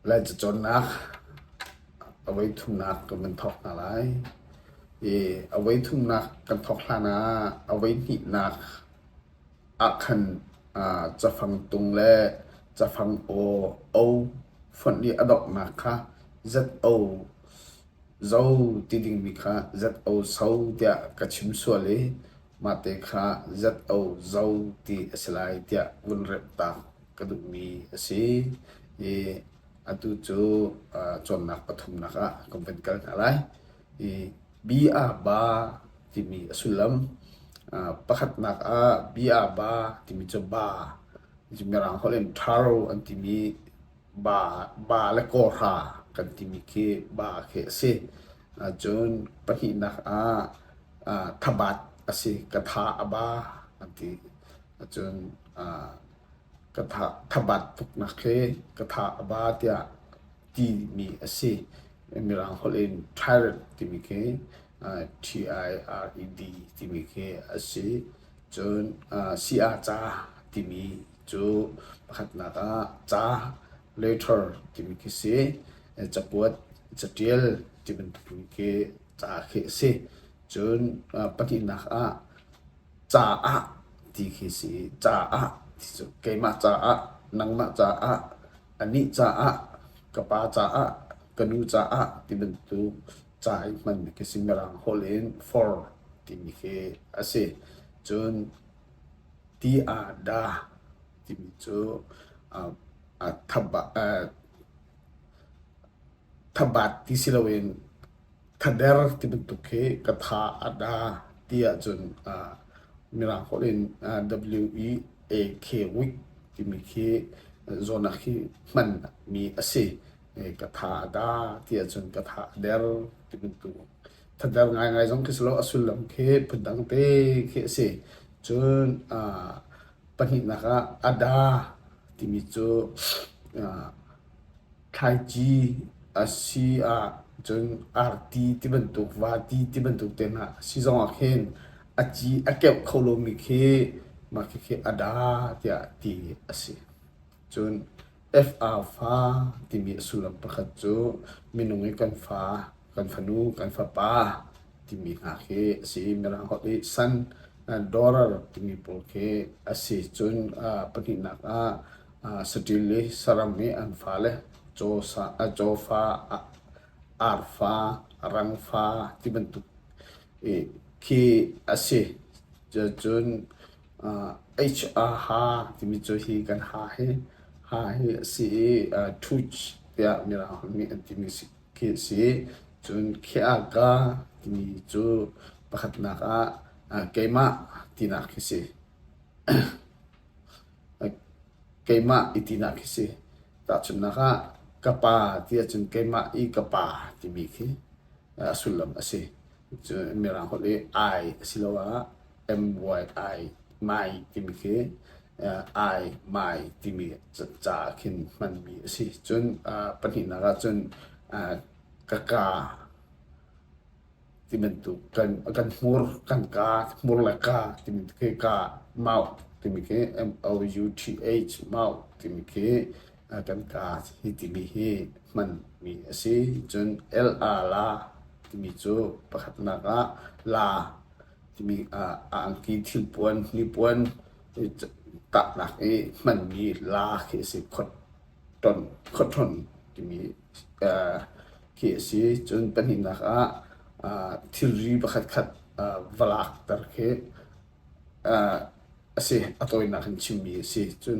Lai cacawnnak avei thumnak kan thawk hna lai. I avei thumnak kan thawk hlan ah avei hnihnak ah khan aa cafang tung le cafang aw o fonh i a donghnak kha Z-O zo ti dingmi kha Z-O so tiah ka chim sual i. Mahte kha ZO Zo ti a si lai tiah vun remh taak ka duhmi a si i atu cu cawnnak pathumnak ah kan vun kal hna lai. I bia ba timi a sullam pakhatnak ah bia ba timi cu ba Mirang holh in thar an timi ba le kawhra kan timi khi ba khi a si. Cun pahnihnak ah thabat a si. Katha a ba an ti. Cun thabat tuknak khi katha a ba tiah timi a si. Mirang holh in tyrant timi khi T-I-R-E-D timi khi a si. Cun si-a-ca timi Cu pakhatnak ah ca later timi khi si, cakuat, catial ti bantukin khi ca khi a si. Cun pahnihnak ah caah ti khi si. Caah ti cu keimah caah, nangmah caah, anih caah, ka pa caah, ka nu caah ti bantuk ca i hmanmi khi si. Mirang holh in for timi khi a si. Cun Ti ah dah timi cu thabat ti siloin thader ti bantuk khi ka tha a dah ti ahcun mirang holh in W-E-A-K week timi khi zawtnak hi hmanmi a si. Ka tha a dah ti ahcun ka tha a der ti bantuk. Phundang ngaingai zong khi si lo, a sullam khi phundang te khi a si. Cun aa pahnihnak ah ada timi cu aa thlaici a si ah cun arti ti bantuk, vati ti bantuk tehna a si zong ah khin a ci a keuh kho lomi khi mah khi khi ada tiah ti a si. Cun FA fa timi a sullam pakhat cu minung i kan fa, kan fanu, kan fapa timi hna khi a si. Mirang holh i son and daughter timi pawl khi a si. Cun ah pahnihnak ah ah saṭil i saram i an fale caw sa, a caw fa, a arfa, a rang fa ti bantuk i khi a si. Cun ha timi cu hi kan ha hi ha hi a si i ṭhuc tiah mirang nih an timi khi a si. Cun kheaka timi cu pakhatnak ah keimah tinak khi si. keimah i tinak khi si. Tahchunhnak ah ka pa ti ahcun keimah i ka pa timi khi a sullam a si. Cun Mirang holh i ai asiloah MYI mai timi khi ai mai timi ca ah khin hmanmi a si. Cun pahnihnak ahcun ka ka ti bantuk kan hmur kan ka hmur le ka timi khi ka mouth timi khi M-O-U-T-H mouth timi khi kan ka hi timi hi hmanmi a si. Cun L-a la timi cu pakhatnak ah la Cumi ah a angki thilpuan, hnipuan tahnak i hmanmi la khi a si. Khawthlawnh timi khi a si. Cun pahnihnak ah thilri pakhatkhat va lakter khi a si. A tawinak in chimmi a si. Cun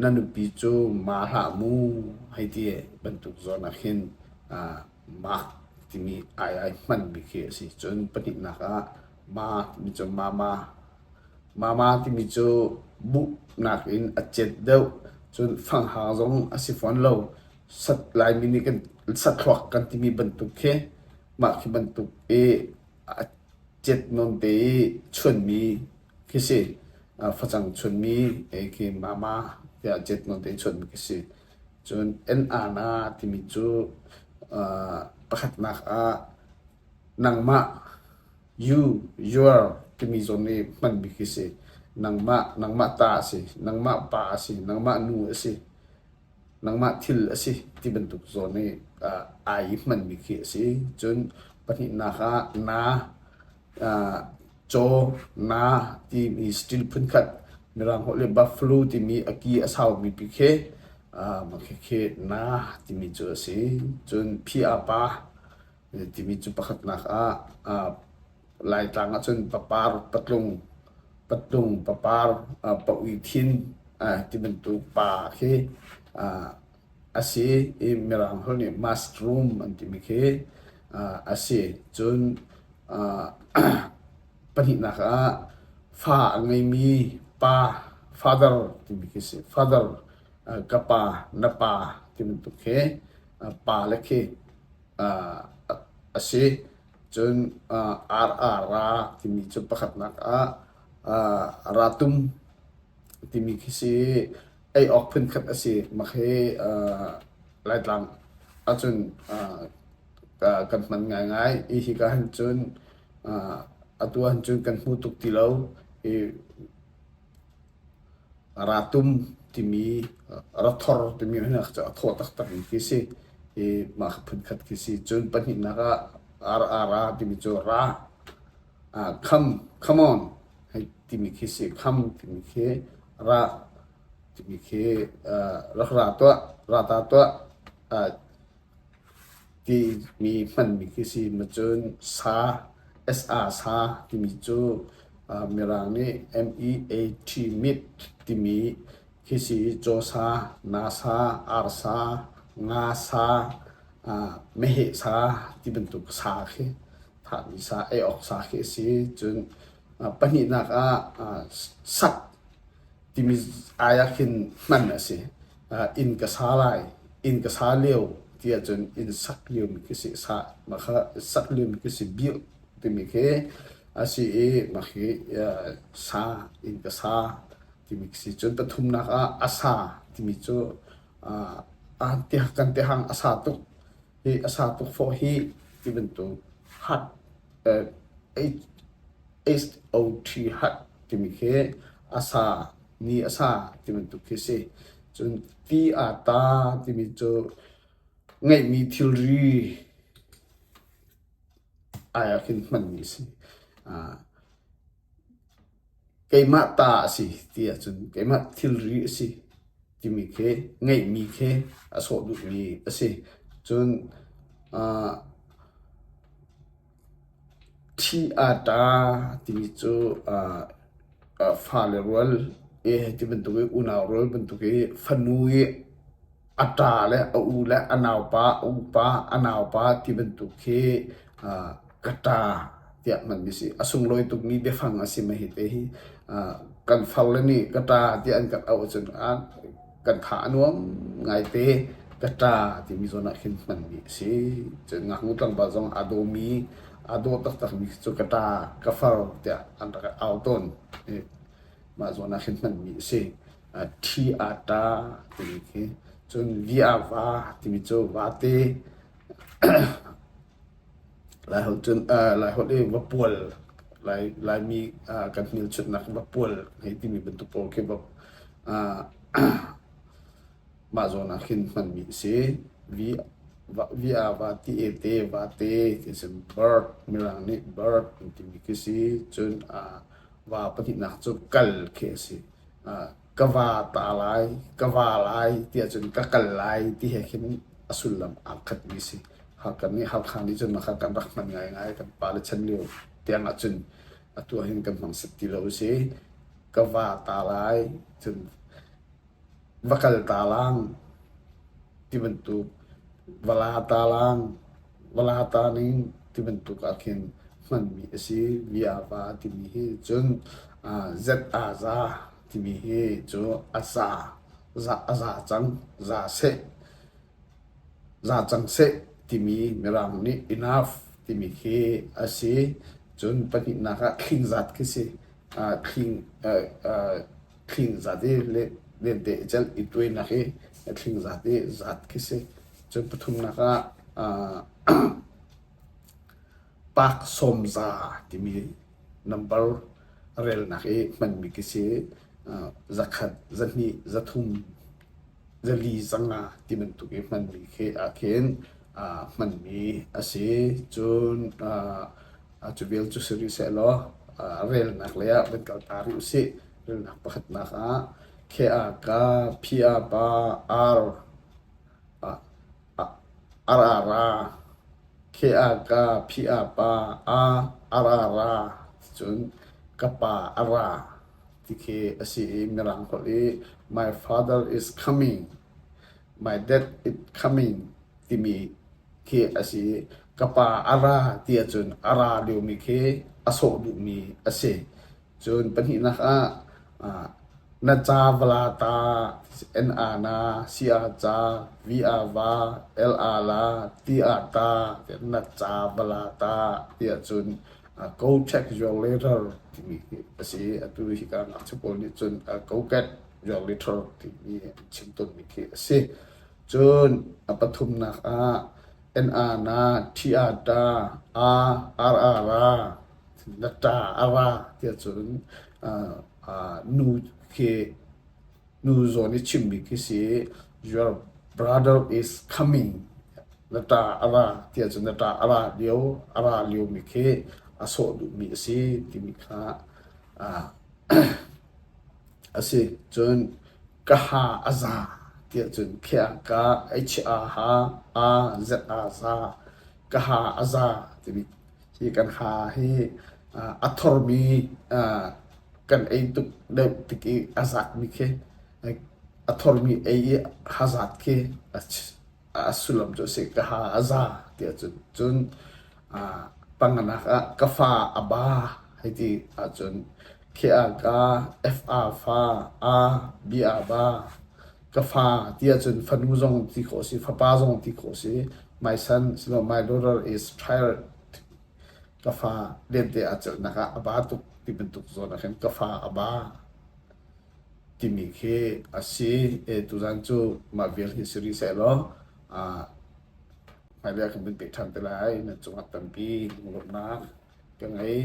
na nupi cu ma hlah mu hei ti bantuk zawn ah khin ah ma timi ai ai hmanmi khi a si. Cun pahnihnak ah ma mi cu mama, mama timi cu buhnak in a cet deuh. Cun fanghang zong a si fawn lo. Sat Laimi nih kan sathluak kan timi bantuk khi mah khi bantuk i a cet nawn te i chuanmi khi si. Facang chunmi eki mama tiah jet nonte chun khi si. Cun NR na timi cu pakhatnak ah nangmah you, your timi zawn i hmanmi khi si. Nangmah, nangmah ta a si. Nangmah pa a si. Nangmah nu a si. nangmah thil a si ti bantuk zawn i uh, ai hmanmi khi a si. Cun pahnihnak ah na uh, caw na timi stil phunkhat mirang holh le buffalo timi a ki a saumi pi khi uh, makhe khi na timi cu a si. Cun phi a pa timi cu pakhatnak ah Laitlang ahcun papar, patlung, patlung, papar, paui thin ti bantuk pa khi a si i mirang holh nih mushroom an timi khi a si. Cun pahnihnak ah fa a ngeimi pa, father timi khi a si. Father, ka pa, na pa ti bantuk khi pa le khi a si. Cun RR ra timi cu pakhatnak ah ratum timi khi si i ei awk phunkhat a si. Mak hi Laitlang ahcun kan hman ngaingai. Hi hi ka han cun atu ahcun kan hmu tuk ti lo. Ratum timi rathor timi hi a thaw taktak mi khi si. Hi mah kha phunkhat khi si. Cun pahnihnak ah RRA timi cu ra, kham, come on timi khi si. Kham timi khi ra timi khi rak ra tuah, ra ta tuah. Timi hmanmi khi si macun sa, sa sa timi cu Mirang nih MEAT mit timi khi si cawsa, nasa, arsa, nga sa, meheh sa ti bantuk sa khi thahmi sa, ei awk sa khi a si. Cun pahnihnak ah sak. timi ai ah khin hman a si. Uh, inn ka sa lai, inn ka sa leo ti ahcun inn sak liam ka si sa ma kha sak liam ka si biu timi khi asi i ma khi uh, sa inn ka sa timi si cun pathumnak ah asa timi cu uh, ah te kan te hang asa tuk hi a sang tuk fawh hi ti bantuk hat SOT hat timi khi a sa ni a sa ti bantuk khi si. Cun ti aa ta timi cu ngeihmi thilri ai ah khin hmanmi a si. keimah ta a si ti ahcun keimah thilri a si timi khi ngeihmi khi a sawh duhmi a si. Cun aa thi aa ṭa timi cu aa aa fale rual i hi ti bantuk i unau rual bantuk i fanu i a ṭa le a u le a naupa, a upa, a naupa ti bantuk khi aa ka ṭa tiah hmanmi a si. A sunglawi tukmi biafang a si mahhi te hi. Aa kan faule nih ka ṭa tiah an kan auh ahcun aa kan tha a nuam ngaite. Ka ṭa timi zawn ah khin hmanmi a si. Cun ngaknu tlangval zong aa dawmi, aa daw taktakmi khi cu ka ṭa, ka far tiah an rak au tawn. mah zawn ah khin hmanmi a si. Uh, thi ata timi khi cun via va timi cu vate lai hol cun uh, lai hol i vapual lai lai mi uh, kan hmil chutnak vapual hei timi bantuk o khi va uh, Mah zawn ah khin hmanmi a si. Vi, va, vi a va ti e te, va te ti a si. Bird, Mirang nih bird an timi khi si. Cun ah va pahnihnak cu kal khi a si. Ah, ka va ta lai, ka va lai ti ahcun ka kal lai ti he khin a sullam aa khatmi a si. Hakha nih, Hakha nih cun mah kha kan rak hman ngaingai. Kan pale chan lio tiang ahcun atu ah hin kan hmang set ti lo a si. Ka va ta lai, cun va kal talang tibantuk va la talang va la taning tibantuk ah khin hmanmi a si. Viava timi hi cun Z-a-za timi hi cu a za a za cang za seh za cang seh timi mirang nih enough timi khi a si. Cun pahnihnak ah khing zat khi si. Khing thling zat i lente i cenh i tuainak i a thling zat i zat khi si. Cun pathumnak ah park sawmza timi nambar relnak i hmanmi khi si. Zakhat, zahnih, zathum Rili zang ah ti bantuk i hmanmi khi ah khin aa hmanmi a si. Cun aa aa cu vial cu si rih sehlaw aa relnak lei ah van kal ta rih usih. Relnak pakhatnak ah khi ah ka phi a pa ar ah ar a ra khi ah ka phi a pa a ar a ra cun ka pa a ra. Tikhi a si i Mirang holh i My father is coming, my dad is coming timi khi a si i ka pa a ra ti ahcun a ra liomi khi a sawh duhmi a si. Cun pahnihnak ah ah, na ca vala ta n a na si a ca v a va l a la ti a ta na ca vala ta ti ahcun Kokek zuang le rar timi hi a si i atu hika ngakchia pawl nih cun kokek zuang le rar timi an chim tawnmi khi a si. Cun a pathumnak ah na, na, thi, a, ta, a, ar, a, ra, na, ta, a, ra ti ahcun nu khi Nu zawn i chim bik hi si Your brother is coming na ṭa a ra ti ahcun na ṭa a ra lio a ra liomi khi a sawh duhmi a si timi kha a si. Cun ka ha a za ti ahcun khiah ka h a ha a z a za ka ha a za timi Hi kan ha hi a thormi kan ei tuk deuh tik i a zakmi khi a thormi ei i ha zat khi a sullam cu a si. Ka ha a za ti ahcun cun panganak ah ka fa a ba hei ti ahcun khi a ka, F a fa, a, B a ba. ka fa ti ahcun fanu zong ti khawh a si, fapa zong ti khawh a si. My son, no, my daughter is tired. Ka fa lente a celhnak ah a ba tuk ti bantuk zawn ah khin ka fa a ba timi khi a si. E, tuzan cu mah vial hi si rih seh law, ah, hmailei ah kan vun peh ṭhan te lai. Na cungah tampi lunglawmhnak ka ngei.